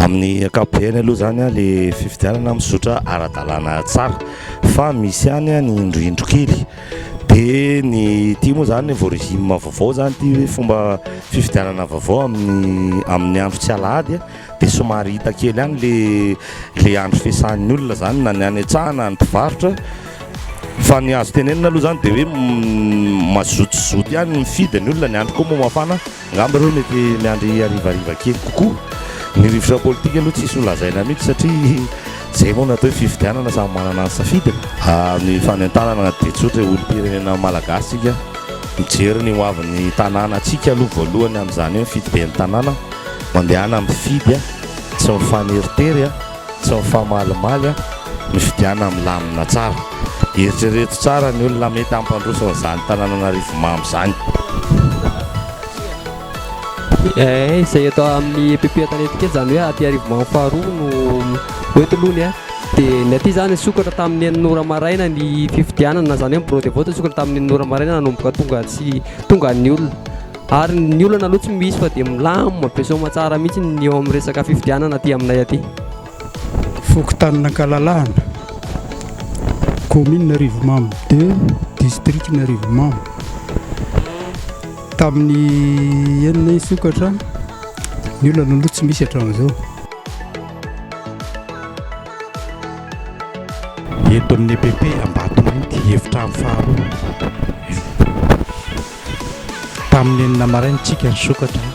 Amin'ny ankapobeny aloha izany an, ilay fifidianana mizotra ara-dalàna tsara fa misy ihany an ny indroindro kely, dia ny ity moa izany vao régime vaovao izany ity hoe fomba fifidianana vaovao amin'ny amin'ny andro tsy alahady an, dia somary hita kely ihany ilay ilay andro fiasan'ny olona izany na ny any an-tsaha na ny mpivarotra, fa ny azo tenenina aloha izany dia hoe mazotozoto ihany mifidy ny olona, ny andro koa moa mafana. Angamba ireo mety miandry harivariva kely kokoa. Ny rivotra politika aloha tsisy ho lazaina mihitsy satria izay moa no atao hoe fifidianana, samy manana ny safidiny. Ny fanentanana dia tsotra e, olom-pirenena malagasy tsika, mijery ny hoavin'ny tanàna tsika aloha voalohany amin'izany hoe mifidy ben'ny tanàna, mandehana mifidy a, tsy mifaneritery a. Tsy mifamalimaly a! Mifidiana milamina tsara. Eritrereto tsara ny olona mety hampandroso an'izany tananan'arivo mamy izany. Eh, izay eto amin'ny EPP Antanety kely izany hoe aty Arivomamo faharoa no hoe tolony eh. Dia ny aty izany nisokatra tamin'ny enina ora maraina ny fifidianana, izany hoe ny bureau de vote nisokatra tamin'ny enina ora maraina nanomboka tonga tsy tonga ny olona. Ary ny olana aloha tsy misy fa dia milamina be soa aman-tsara mihitsy ny eo amin'ny resaka fifidianana aty aminay aty. Fokontanin'Ankalalahana, Kaominina Arivomamo deux, Distrikan' Arivomamo. Tamin'ny enina hisokatra ny olana aloha tsy misy hatramin'izao. Eto amin'ny EPP Ambatomainty, Efitrano faharoa. Tamin'ny enina maraina isika nisokatra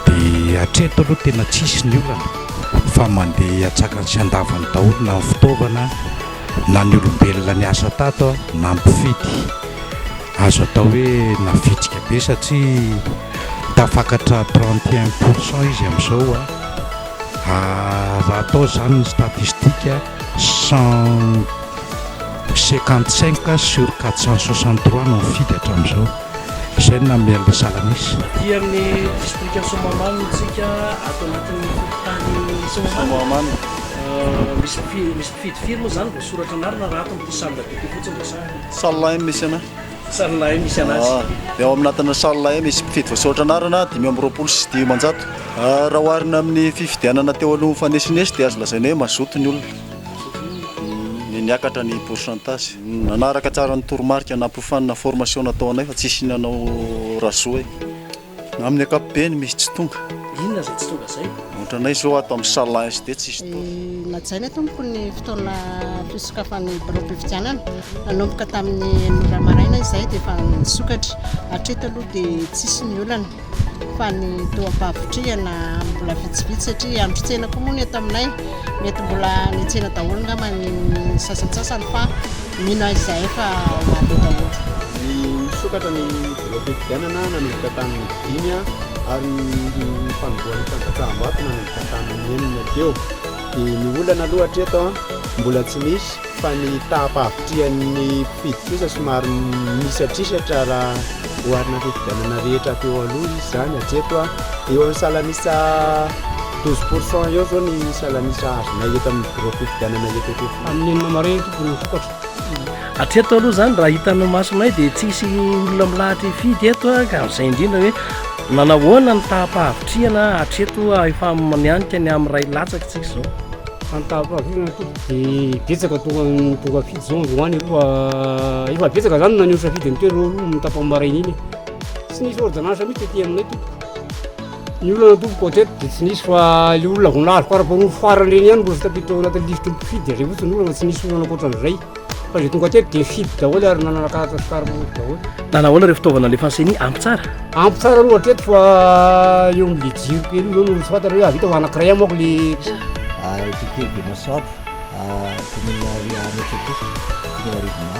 dia hatreto aloha tena tsisy ny olana fa mandeha atsakany sy andavany daholo na ny fitaovana na ny olombelona niasa tato na mpifidy. Azo atao hoe navitsika be satria tafakatra trente et un pour cent izy amin'izao. Raha atao izany ny statistika. 155 sur 463 no nifidy hatramin'izao, izay no nanome an'ilay salan'isa. Aty amin'ny distrikan'i Soamahamanina isika, ato anatin'ny fokontany Soamahamanina. Misy mpifidy firy moa izany? Voasoratra anarana raha ato amin'ity salle d'adopté fotsiny resahana. Salle MSNA. Salle E misy anazy. Ah, dia ao anatin'ny salle E misy mpifidy voasoratra anarana dimy amby roapolo sy dimanjato. Ah, raha oharina amin'ny fifidianana teo aloha mifanesinesiy dia azo lazaina hoe mazoto ny olona. Ny niakatra ny pourcentage. Nanaraka tsara ny toromarika nampiofanina formation nataonay fa tsisy nanao razoa e. Amin'ny ankapobeny misy tsy tonga. Inona izay tsy tonga izay? Otranay izao ato amin'ny salle SD tsisy tonga. Najaina tompoko ny fotoana fisokafan'ny biraom-pifidianana. Nanomboka tamin'ny enina ora maraina izay dia efa nisokatra. Hatreto aloha dia tsisy ny olana fa ny toa am-pahavitrihana mbola vitsivitsy satria andro tsena koa moa ny eto aminay. Mety mbola nitsena daholo angamba ny sasantsasany fa mino ahy izahay fa ho avy eo daholo. Ny misokatra ny Voafifidianana nanomboka tamin'ny dimy ary ny fanombohan'ny fanjakam-bato nanomboka tamin'ny enina teo. Dia ny olana aloha hatreto mbola tsy misy fa ny taham-pahavitrihan'ny mpifidy kosa somary misatrisatra raha oharina amin'ny fifidianana rehetra teo aloha izy izany. Hatreto eo amin'ny salan'isa douze pourcent eo izao ny salan'isa azonay eto amin'ny birao fifidianana eto Ampianina. Amin'ny enina maraina tompoko no misokatra. Hatreto aloha izany raha hitan'ny masonay dia tsy hisy olona milahatra hifidy eto ah, ka amin'izay indrindra hoe nanahoana ny taha-pahavitrihana hatreto ah, efa mianika ny amin'ny ray latsaka isika izao. Fa ny taha-pahavitrihana toa dia betsaka toa tonga fidy izao androany aloha ah, efa betsaka izany naneho safidy an'itoerana aloha ny tapam-baraina iny. Tsy nisy ordonnance mihitsy aty aminay tompoko. Ny olona natovo contete dia tsy nisy fa ilay olona vao nahazo par rapport ny farany ireny ihany mbola tafiditra ao anatin'ny lisitry ny mpifidy dia izay fotsiny ny olana tsy nisy olana ankoatran'izay fa izay tonga teto dia nifidy daholo ary nanana carte sy carte route daholo. Na nahoana ireo fitaovana alefan'ny CENI ampy tsara? Ampy tsara aloha hatreto fa eo amin'ilay jiro kely io no tsy fantatra hoe avita fa anankiray amako ilay Titely dia masoandro kominina Riahametso aty, kominina Rivonà.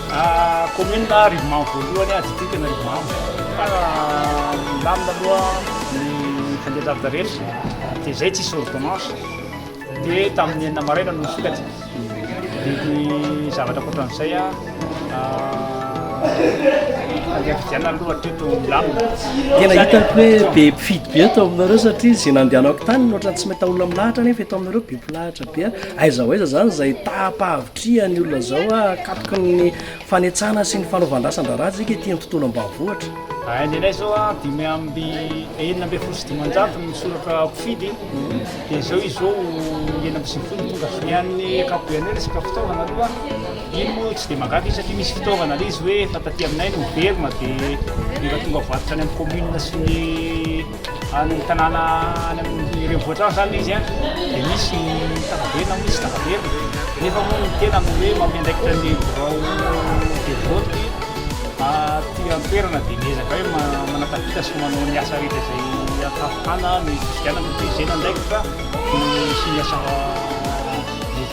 Kaominina Rivomamo voalohany a, distrikan'i Rivomamo. Fa nilamina aloha ny fandehan-javatra rehetra, dia izay tsisy ordonnance. Dia tamin'ny enina maraina no nisokatra. Dia ny zavatra ankoatran'izay a, andeha fidianana aloha hatreto milamina. Tena hitako hoe be mpifidy be eto aminareo satria izay nandehanako tany no ohatran'ny tsy mahita olona milahatra nefa eto aminareo be mpilahatra be. Aiza ho aiza izany izay taha-pahavoka Tria ny olona izao hahakatoky ny fanetsana sy ny fanaovan-drasan-draharaha isika ety amin'ny tontolo ambanivohitra. Hain'ilay izao an, dimy amby enina ambin'ny folo sy dimanjato ny soratra mpifidy, dia izao izy izao enina amby sivifolo no tonga. Ny an'ny ankapobeny hoe resaka fitaovana aloha, iny moa tsy dia mahagaga izy satria misy fitaovana ilay izy hoe efa taty aminay no niverina dia efa tonga varotra any amin'ny commune sy ny. Any tanàna any amin'ny renivohitra any izany ilay izy an, dia misy ny tababe na misy tababerina, nefa moa ny tena no hoe manome andraikitra ny birao de vote aty an-toerana dia miezaka hoe manatafita sy manao ny asa rehetra izay ahafahana ny fifidianana, dia izay no andraikitra no sy ny asa rehetra.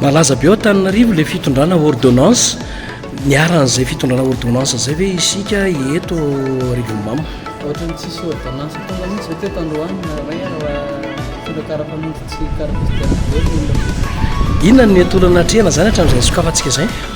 Malaza be ao Antananarivo ilay fitondrana ordonnance, niharan'izay fitondrana ordonnance izay ve isika eto Rivonimamo? Ohatrany tsisy ordonnance tonga mihitsy ve teto androany ray fomba karapanondro tsy karapizy dia tsy velona olona teto? Inona no mety olana atrehina izany hatramin'izay nisokafantsika izay?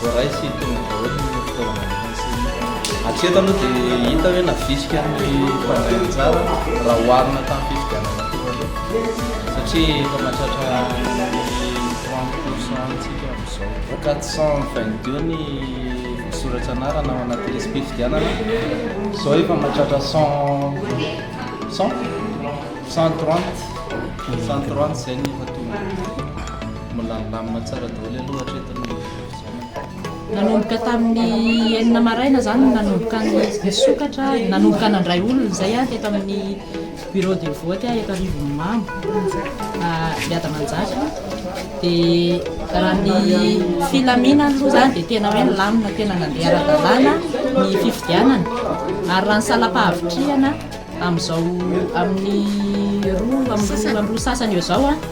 Voaray sy tonga daholo ny fitaovana ampiasaina. Hatreto aloha dia hita hoe navisika ny mpandray anjara raha oharina tamin'ny fifidianana teo aloha satria efa mahatratra ny 30 pour cent antsika amin'izao. 422 ny voasoratra anarana ao anaty lisi-pifidianana, izao efa mahatratra 100, 100? 130, 130 izay no efa tonga. Milamilamina tsara daholo aloha hatreto ny fifidianana. Nanomboka tamin'ny enina maraina izany no nanomboka nisokatra, nanomboka nandray olona izay aho teto amin'ny bureau de vote aho eto Arivonimamo, Biada Manjaka. Dia raha ny filaminana aloha izany dia tena hoe nilamina, tena nandeha ara-dalàna ny fifidianana. Ary raha ny salam-pahavitrihana amin'izao amin'ny roa amby roa sasany eo izao,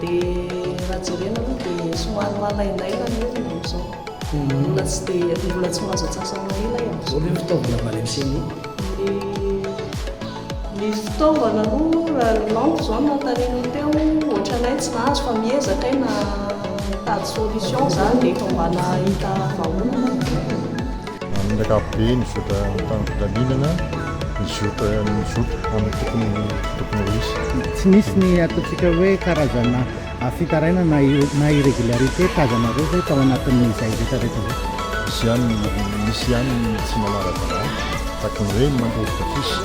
Dia raha jerena aloha dia somary malaindaina ny olona amin'izao. Ny olona tsy dia, ny olona tsy mahazo antsasany ela e. Ahoana ny fitaovana mba any amin'ny CENI? Ny fitaovana aloha raha ny lampe izao no nanontanianao teo, ohatranay tsy nahazo fa miezaka hay na mitady solution izany dia efa mba nahita vahaolana. Amin'ny ankapobeny, mizotra tamin'ny filaminana, mizotra mizotra amin'ny tokony tokony ho izy. Tsy misy ny ataontsika hoe karazana fitarainana na irregularité tazanareo ve tao anatin'izay retraretra zay? Misy ihany misy ihany ny tsy manara-dalàna, tahaka ny hoe ny mandoro tapisy.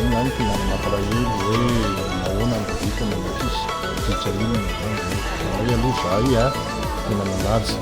Iny ihany tena mampalahelo hoe nahoana no vokany ny tapisy, ditra inona izany izany. Izany hoe aloha izahay tena nanaja.